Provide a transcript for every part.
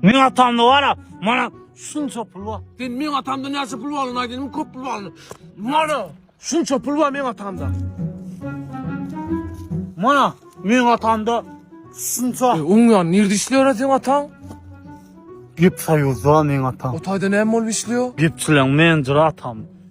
Meň atamda bar-a, mana şunça pul bar. Sen meň atamda näçe pul barlygyny aýt, indi köp pul barlygyny. Mana şunça pul bar meň atamda. Mana meň atamda şunça. E, oň ýan nirde işleýär seň ataň? Gep soýuzda meň atam. O taýda näme bolup işleýär? Gepçileň menjeri atam.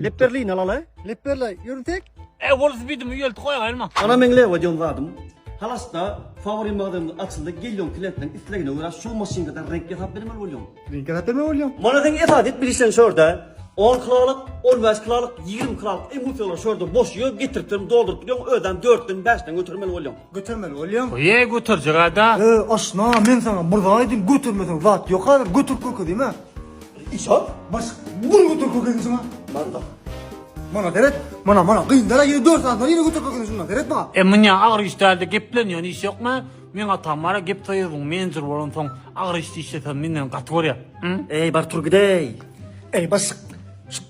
Lep berleýin alala. Lep berle, ýörünsek. E, bol spidimi ýölt goýaýylma. Ana meň Lewa diýen zadym. Halasda fawori magazynymyz açyldy. Gelýoň klientleň islegine görä şu maşynkadan reňk ýasap bermeli bolýaň. Reňk ýasap bermeli bolýaň. Mana seň esasy etmeli işleň şorda. On kilolyk, on bäş kilolyk, ýigrimi kilolyk emulsiýalar şorda boş ýör, getirip senem dolduryp bilýäň, özem dörtden, bäşden götermeli bolýaň. Götermeli bolýaň. Goýaý göterjek-ä-da. E, aşna, men saňa bir zat aýdym, götermeseň zat ýok häzir, göterip görkezim-ä. Isa, baş, bunu götür kökeni şuna. Manda. Mana deret, mana mana gyndara yine dört saat var yine götür kökeni şuna deret bana. E mine ağır iş däldi geplenýän iş yok mu? Men atam bara gep soýuzyň menjur bolan soň ağır iş işlesen menden gaty görýär. Ey bar tur gidey. Ey baş,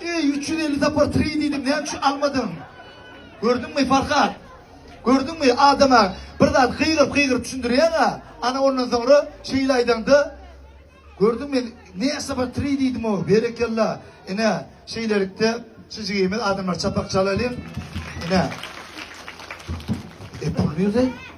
Ey 350 tapar 3 diýdim, näme üçin almadyň? Gördüňmi Farhat? Gördüňmi adama bir zat gygyryp gygyryp düşündirýäň-a. Ana ondan soňra şeýle aýdaňda Gördüňmi? Näçe bir 3 diýdim o. Berekella. Ine, şeýlelikde şu jigimiz adamlar çapak çalalyň. Ine. E pul nerede?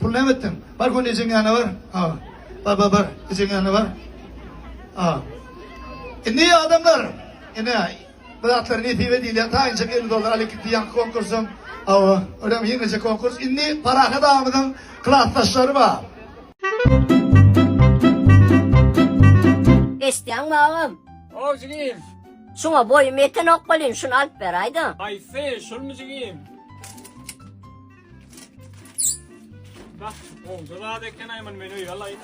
Pul näme etdiň? Bar göni ejeň ýanyna bar. A. Bar bar bar. Ejeň ýanyna bar. A. Indi adamlar. Ene. Bir zatlar nesibe diýilýär. Taýynjak 50 dollar alyp gitdi ýaňky konkursyň. Awa. Örem ýeňije konkurs. Indi parahat agymyzyň klasdaşlary bar. Eşitýäňmi agam? How jigim? Şuňa boýum ýetenok welin şuny alyp beräýdä. Haýsy? Şulmy jigim? Bak, oldu zat eken ayman men öýe alayım.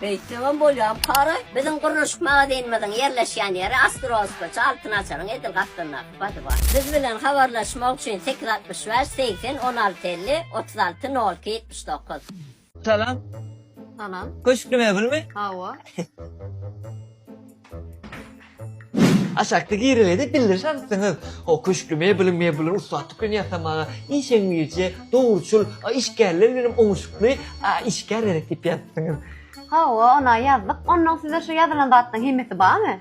Beýtdegem bolýar para. Biziň gurluşyk magazinimiziň ýerleşýän ýeri Astrospaça Altyn Açaryň edil gapdalyndaky badyba. Biz bilen habarlaşmak üçin sekiz altmyş bäş segsen on alty elli otuz alty nol iki ýetmiş dokuz. Salam. Salam. Köşkli mebelmi? Hawa. Aşakda girilede bildiriş alypsyňyz. O köşkli mebeliň mebelini ussatlyk bilen ýasamaga işeňňirje, dogruçyl, işgärler bilen oňuşykly işgär gerek diýip ýazypsyňyz. Hawa, ona ýazdyk. Onnoň size şu ýazylan zatlaryň hemmesi barmy?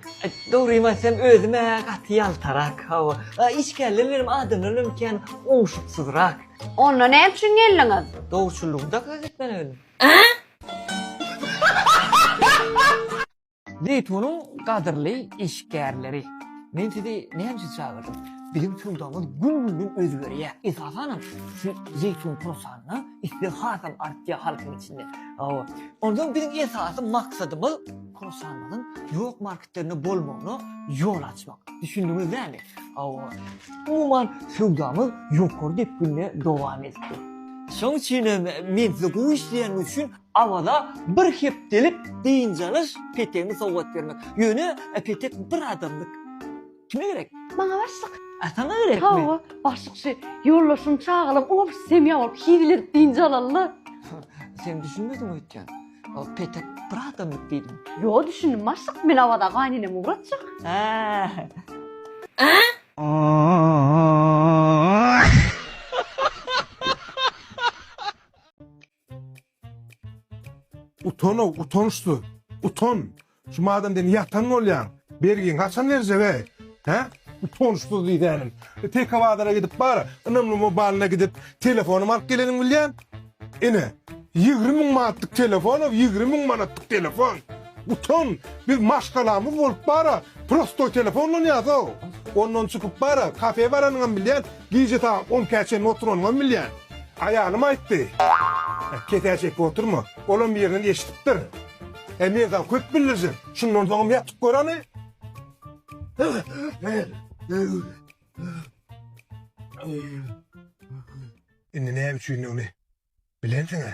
Dogrymy aýtsam, özüm-ä gaty ýaltarak. Hawa, işgärler bilen adamlar bilen kän oňuşyksyzrak. Onda näme üçin geldiňiz? Dogruçyllygy dakga gitmeli geldim. Zeýtunyň gadyrly işgärleri. Men sizi näme üçin çagyrdym? Biziň söwdamyz gün-günden özgerýär. Esasanam şu zeýtun pursatyna isleg hasam artýar halkyň içinde. Hawa. Onsoň biziň esasy maksadymyz pursanymyzyň ýok marketde ýerine bolmagyna ýol açmak. Düşündiňiz dämi? Hawa. Umuman, söwdamyz ýokary depginde dowam edip dur. Şoň üçin hem men size gowy işleýäniňiz üçin Awaza bir hepdelik dynç alyş petegini sowgat bermek. Ýöne petek bir adamlyk. Kime gerek? Maňa başlyk. A saňa gerekmi? Hawa, başlyk şu ýoldaşyny çagalap, obşy semýa bolup hizil edip dynç alaly-da. Sen düşünmediň öýtýän. Ol petek bir adamlyk diýdim. Ýo, düşündim başlyk, men Awaza gaýynenemi ugratjak. Hä. Utan ow, utançsyz. Utan. Şu madem sen ýatan bolýaň, bergiňi haçan berjege? Hä? Utançsyz diýsänim. Tek bazara gidip bar, ynamly mobalyna gidip, telefonymy alyp geleniňi bilýän? Ine, ýigrimi müň manatlyk telefon ow, ýigrimi müň manatlyk telefon. Utan, biz maşgalamyz bolup bara prostoý telefon ulanyýasow. Ondan çykyp bara kafe baranyňam bilýän, gije sagat on ikä çenli oturanyňam bilýän. Aýalym aýtdy. Kesäý çekip oturma, olam birinden eşidipdir. He men saňa köp bildirjek, şundan soňam ýatyp gör hany. Indi näme üçindigini bilensiň-ä?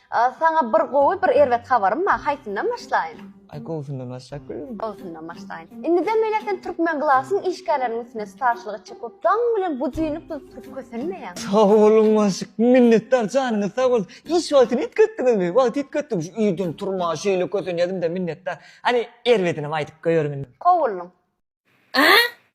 Saňa bir gowy bir erbet habarym bar haýsyndan başlaýyn? Aý gowusyndan başlap göreliň. Gowusyndan başlaýyn. Indiden beýläk sen Türkmen Glasyň işgärleriniň üstüne starşylyk etjek bolup daň bilen bujyny tuzup turup kösenmeýäň. Sag boluň Maşyk. Minnetdar janyňyz sag bolsun. Iş wagtyny üýtgetdiňizmi? Wagty üýtgetdim şu irden turma şeýle kösenýädimdä minnetdar. Hany erbedinem aýdyp goýerin indi. Kowullyň. Aa!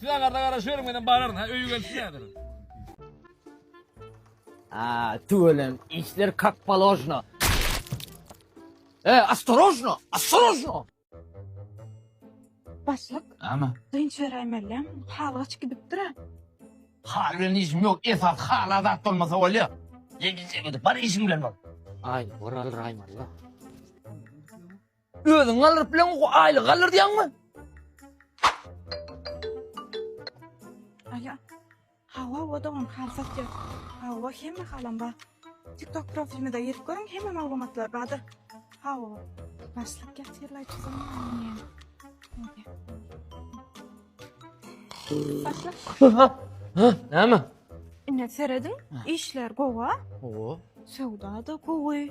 Siz aňarda garaşyberin menem bararyn ha öýe gelip siňädirin. Aa, tüwelem, işler kak polojno. E, astorojno, astorojno. Başlyk. Ama. Dynç beräýmelem, hal gaç gidipdir a. Hal bilen işim yok, esas hal azat olmasa olya. Yedi çekedi, bar işim bilen ol. Ay, oral raymalı. Özüň galdyryp bileňok o aýlygy galdyrýaňmy? Alo. Hawa, o dogum halsat ýok. Hawa, hemme halam bar. TikTok profilimde girip görüň, hemme maglumatlar bardyr. Hawa. Başlyk getirläýçi zamanny. Başlyk. Ha. Ha, näme? Ine serediň, işler gowa. Gowa. Söwda da gowy.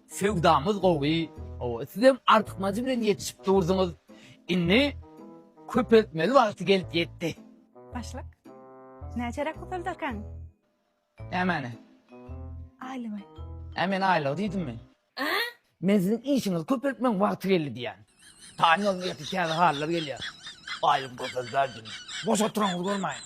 Söwdamyz gowy. Owo sizem artykmajy bilen ýetişip durdyňyz. Indi köpeltmeli wagty gelip ýetdi. Başlyk. Näçeräk köpelderkäň? Nämeni? Aýlygy. Ä men aýlygy diýdimmi? Men siziň işiňizi köpeltmegiň wagty geldi diýýän. Taýyn boluň ertir täze halylar gelýär. Aýlygy köpeldäris indi. Boş oturyňyzy görmäýin.